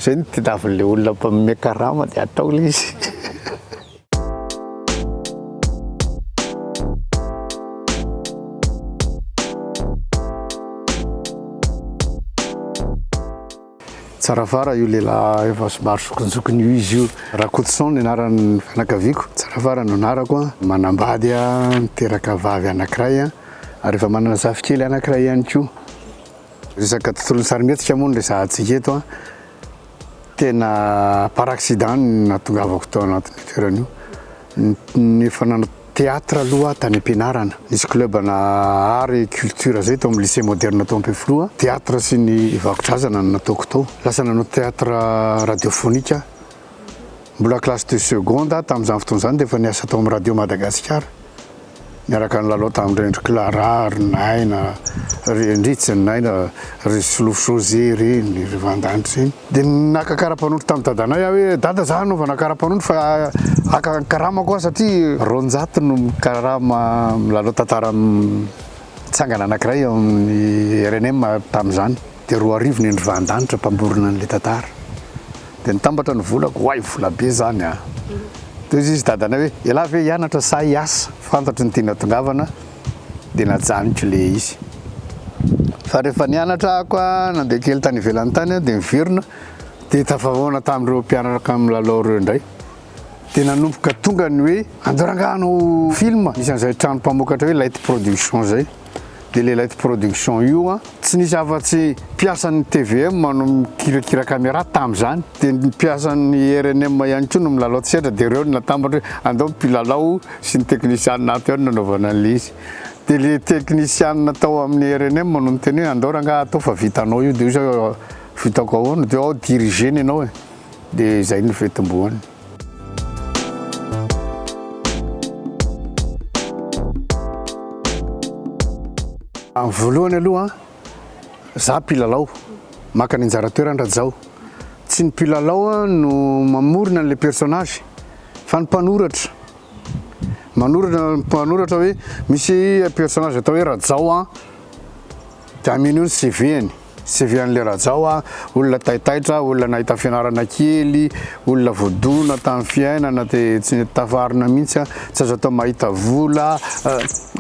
Zay no tadiavin'ilay olona mpanome karama dia atao ilay izy. tsara fara io lehilahy efa somary zokinjokiny io izy io rakotoson ny anaran'ny fianakaviako tsara fara no anarako a manambady a miteraka vavy anankiray a ary efa manana zafikely anankiray ihany koa Resaka tontolon'ny sarimihetsika moa no resahantsika eto an. Tena par accident no nahatongavako tao anatin'io toerana io. Ny efa nanao théâtre aloha tany am-pianarana. Nisy club ana art et culture zay tao amin'ny lycée moderne tao Ampefiloha an. Théâtre sy ny vakodrazana no nataoko tao. Lasa nanao théâtre radiophonique aho. Mbola classe de seconde aho tamin'izany fotoana izany dia efa niasa tao amin'ny radio Madagasikara. Niaraka nilalao tamin'i Rendry Clara, ry Naina, ry Henrice, ny Naina, ry Solofo José ireny, ry Vandany ireny. Dia naka kara-panondro tamin'i Dadanay aho hoe, Dada izaho hanaovana kara-panondro fa haka ny karamako aho satria roanjato no mikarama milalao tantara mitsangana anankiray ao amin'ny rnm tamin'izany. Dia roa arivo ny andrivahandanitra mpamorona an'ilay tantara. Dia nitambatra ny volako, oay vola be izany a! Teo izy dadanay hoe, ialahy ve hianatra sa hiasa? Fantatro ny tianao tongavana dia najanoko ilay izy. Fa rehefa nianatra ako a, nandeha kely tany ivelany tany aho dia niverina, dia tafahaona tamin'ireo mpianaraka milalao ireo indray. Dia nanomboka tonga ny hoe, andao rangahy hanao film, nisy an'izay trano mpamokatra hoe Light Production izay. dia le light production io an, tsy nisy afa-tsy mpiasan'ny tvm no mikirakira camera tamin'izany, dia ny mpiasan'ny rnm ihany koa no milalao tsetra, dia ireo no natambatra hoe andao ny mpilalao sy ny teknisianina ato ihany no anaovana an'ilay izy, dia le teknisianina tao amin'ny rnm no niteny hoe andao rangahy atao fa vitanao io, dia hoy izy hoe vitako ahoana, dia ao diriger-ny ianao e, dia izay no fitomboany. Amin'ny voalohany aloha, za mpilalao, maka ny anjara toerany Rajao. Tsy ny mpilalao no mamorona an'ilay personnage fa ny mpanoratra. Manoratra mpanoratra hoe misy personnage atao hoe Rajao an, dia ameno ny CV-ny. CV an'le Rajao a, olona taitaitra, olona nahita fianarana kely, olona voadona tamin'ny fiainana de tsy nety tafarina mihitsy a, tsy azo atao mahita vola,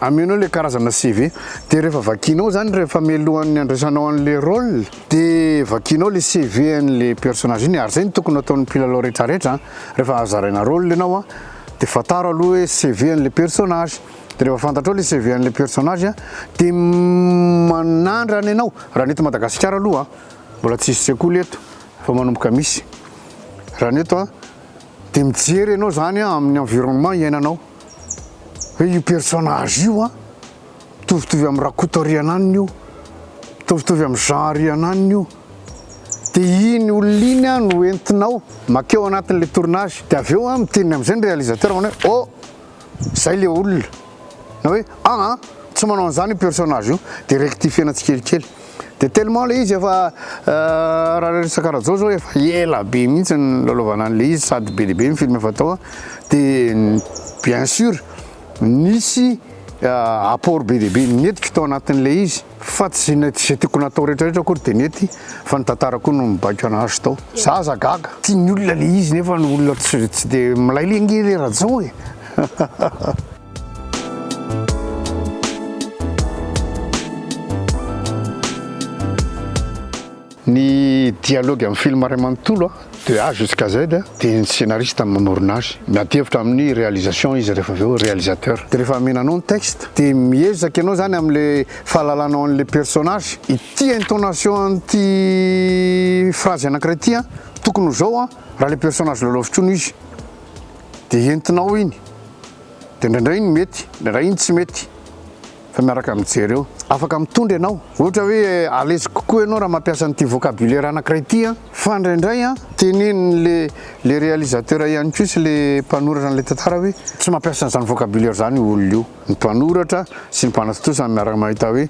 amenao le karazana CV de rehefa vakianao zany rehefa mialohan'ny handraisanao an'le rôle de vakianao le CV an'le personnage iny, ary zay no tokony ataon'ny mpilalao retraretra an, rehefa zaraina rôle ianao an de fantaro aloha hoe CV an'le personnage. De rehefa fantatrao le CV an'ilay personnage a, de manandrana ianao, raha ny eto Madagasikara aloha a, mbola tsy hisy sekoly eto fa manomboka misy, raha ny eto a, de mijery ianao zany a amin'ny environnement iainanao, hoe io personnage io a, mitovitovy am Rakotorianana io, mitovitovy am Jean Rianana io, de iny olona iny a no entinao makeo anatin'ilay tournage, de avy eo a miteny am'zay ny réalisateur manao hoe oh! Zay le olona na hoe ah ah tsy manao an'zany io personnage io de rectifier-na tsikelikely de tellement le izy efa raha resaka Rajao zao efa ela be mihitsy nilalaovana an'le izy sady be dia be ny film efa tao de bien sur nisy apport be dia be nentiko tao anatin'le izy. Fa tsy ny tsy tiako natao rehetra rehetra akory de nety fa ny tantara koa no mibaiko anazy tao. Za aza gaga. Tiany olona le izy nefa ny olona tsy tsy de milay le nge le Rajao e. Ny dialogue amin'ny film iray manontolo de A jusqu'à Z dia ny scenariste no manorina azy. Miady hevitra amin'ny réalisation izy rehefa avy eo, réalisateur. Dia rehefa amenanao ny texte dia miezaka ianao izany amin'ilay fahalalanao an'ilay personnage, ity intonation an'ity phrase anankiray ity an, tokony ho izao an, raha ilay personnage lalaoviko io no izy. Dia entinao iny. Dia indraindray iny mety, indraindray iny tsy mety. fa miaraka mijery eo. Afaka mitondra ianao. Ohatra hoe à l'aise kokoa ianao raha mampiasa an'ity vocabulaire anankiray ity an. Fa indraindray an, tenenin'ny le le réalisateur ihany koa sy le mpanoratra an'ilay tantara hoe tsy mampiasa an'izany vocabulaire izany io olona io. Ny mpanoratra sy ny mpanatontosa no miaraka mahita hoe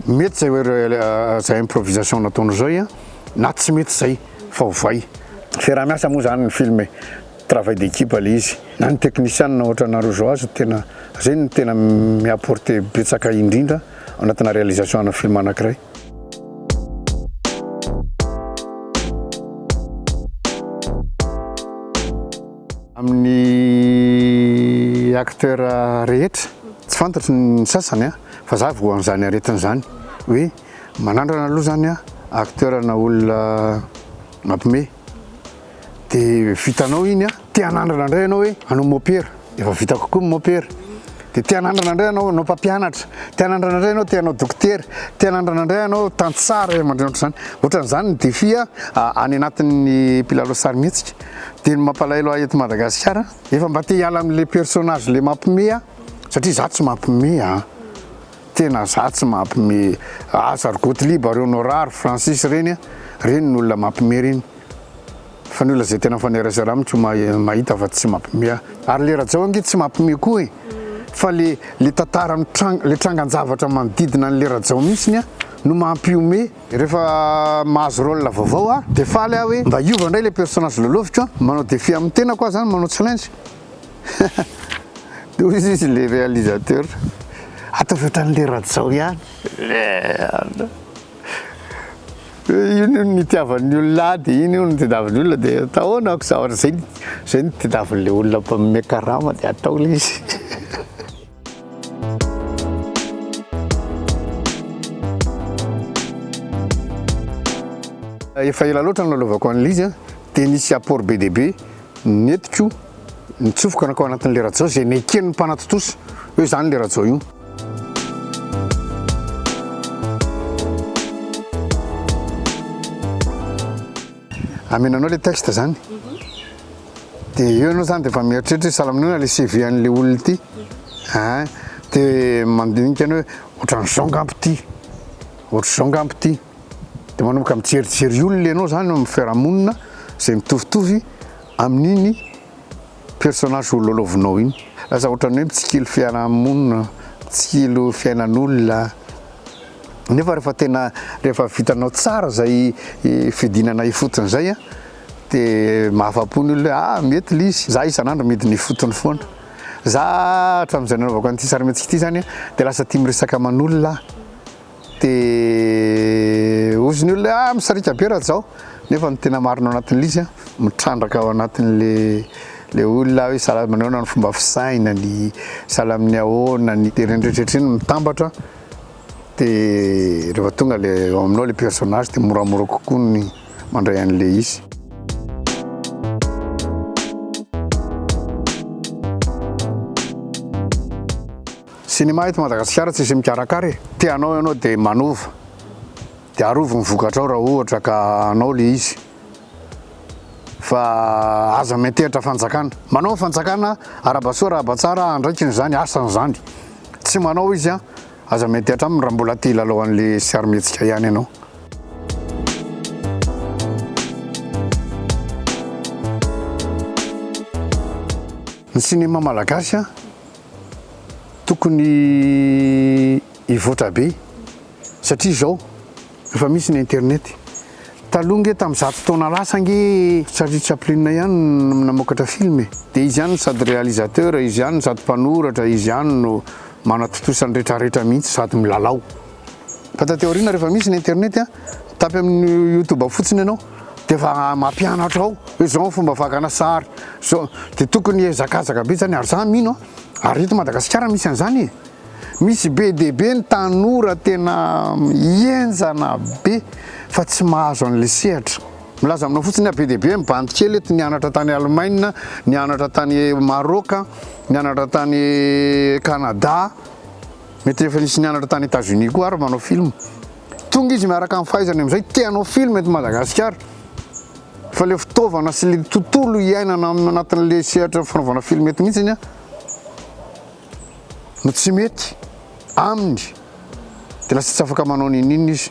mety izay izay improvisation nataonao izay an, na tsy mety izay fa ovay. Fiaraha-miasa moa izany ny film e. Travail d'équipe le izy na ny technician ohatra anareo zao aza tena zegny no tena mi apporter betsaka indrindra ao anatina réalisation ana film anakiray. Amin'ny acteur rehetra tsy fantatro ny sasany a fa za voa an'izany aretina zany hoe manandrana aloha zany a acteur na olona mampime dia vitanao iny a, te hanandrana indray ianao hoe hanao mopera, efa vita kokoa ny mopera, dia te hanandrana indray ianao hanao mpampianatra, te hanandrana indray ianao te hanao dokotera, te hanandrana indray ianao tantsaha ray aman-dreny ohatr'izany, ohatr'izany ny défi any anatin'ny mpilalao sarimihetsika, dia ny mampalahelo ahy eto Madagasikara efa mba te hiala amin'ilay personnage ilay mampiomehy aho satria izaho tsy mampiomehy an! Tena za tsy mampme azy ary Gottlieb ary Honora ary Francis ireny a! Ireny no olona mampme ireny fa ny olona zay tena mifanerasera amiko no mahita fa tsy mampme ahy. Ary le Rajao ange tsy mampme koa e! Fa le le tantara mitranga, le trangan-javatra manodidina an'le Rajao mihitsiny a no mampiome. Rehefa mahazo rôle vaovao aho dia faly aho hoe mba hiova indray ilay personnage lôloviko a! Manao défi amin'ny tenako aho izany, manao challenge. Toy izy izy le réalisateur. Ataovy ohatran'le Rajao ihany. Merde. Eh, iny hono nitiavan'ny olona ahy dia iny hono tadiavin'ny olona dia atao ahoana ako zavatra zay zay no tadiavin'le olona mpanome karama dia atao le izy. Efa ela loatra no nanaovako an'ilay izy an, dia nisy apport be dia be. Nentiko nitsofoka nankao anatin'ilay rajao izay neken'ny mpanatontosa hoe izany ilay rajao io. Amena anao ilay texte izany. Dia eo ianao izany dia efa mieritreritra hoe salaminona ilay CV an'ilay olona ity. Dia mandinika anao hoe ohatran'izao ngamba ity, ohatr'izao ngamba ity. Dia manomboka mijerijery olona ianao izany eo amin'ny fiarahamonina izay mitovitovy amin'iny personnage ho lalaovinao iny. Lasa ohatran'ny hoe mitsikilo fiarahamonina, mitsikilo fiainan'olona. Nefa rehefa tena, rehefa vitanao tsara izay fidinana ifotony izay an, dia mahafa-po ny olona hoe ah mety ilay izy, za isan'andro midina ifotony foana. Za hatramin'izay nanaovako an'ity sarimihetsika ity izany an, dia lasa tia miresaka aman'olona aho. Dia hozy ny olona hoe ah misarika be Rajao nefa ny tena marina ao anatin'ilay izy an, mitrandraka ao anatin'ilay olona hoe sahala amin'ny ahoana ny fomba fisainany, sahala amin'ny ahoana ny, dia ireny rehetra rehetra ireny mitambatra dia rehefa tonga ilay eo aminao ilay personnage dia moramora kokoa ny mandray an'ilay izy. Cinema eto Madagasikara tsisy mikarakara e! Te hanao ianao dia manova dia arovy ny vokatrao raha ohatra ka hanao ilay izy fa aza miantehitra fanjakana. Manao ny fanjakana arabasoa rahabatsara andraikiny izany asany izany tsy manao izy an! Aza miantehitra aminy raha mbola te hilalao an'ilay sarimihetsika ihany ianao. Ny cinema malagasy an! tokony hivoatra be satria zao efa misy ny internet, taloha nge tam zato taona lasa nge Charlie Chaplin ihany no namokatra film e, de izy ihany sady réalisateur, izy ihany sady mpanoratra, izy ihany no manatontosa ny retraretra mihitsy sady milalao, fa taty aoriana refa misy ny internet tapy aminy youtube fotsiny ianao de efa mampianatra ao hoe zao ny fomba fakana sary zao de tokony ezakazaka be zany ary za mino a ary eto madagasikara misy an'zany e misy be de be ny tanora tena hienjana be fa tsy mahazo an'le sehatra milaza aminao fotsiny a be de be ny bandy kely eto nianatra tany alemaina nianatra tany maroka nianatra tany canada mety efa nisy nianatra tany etats unis koa ary manao film Tonga izy miaraka amin'ny fahaizany amin'izay te hanao film eto Madagasikara fa ilay fitaovana sy ilay tontolo iainana amin'ny anatin'ilay sehatra fanaovana film eto mihitsy ny no tsy mety aminy dia lasa tsy afaka manao n'inon'inona izy.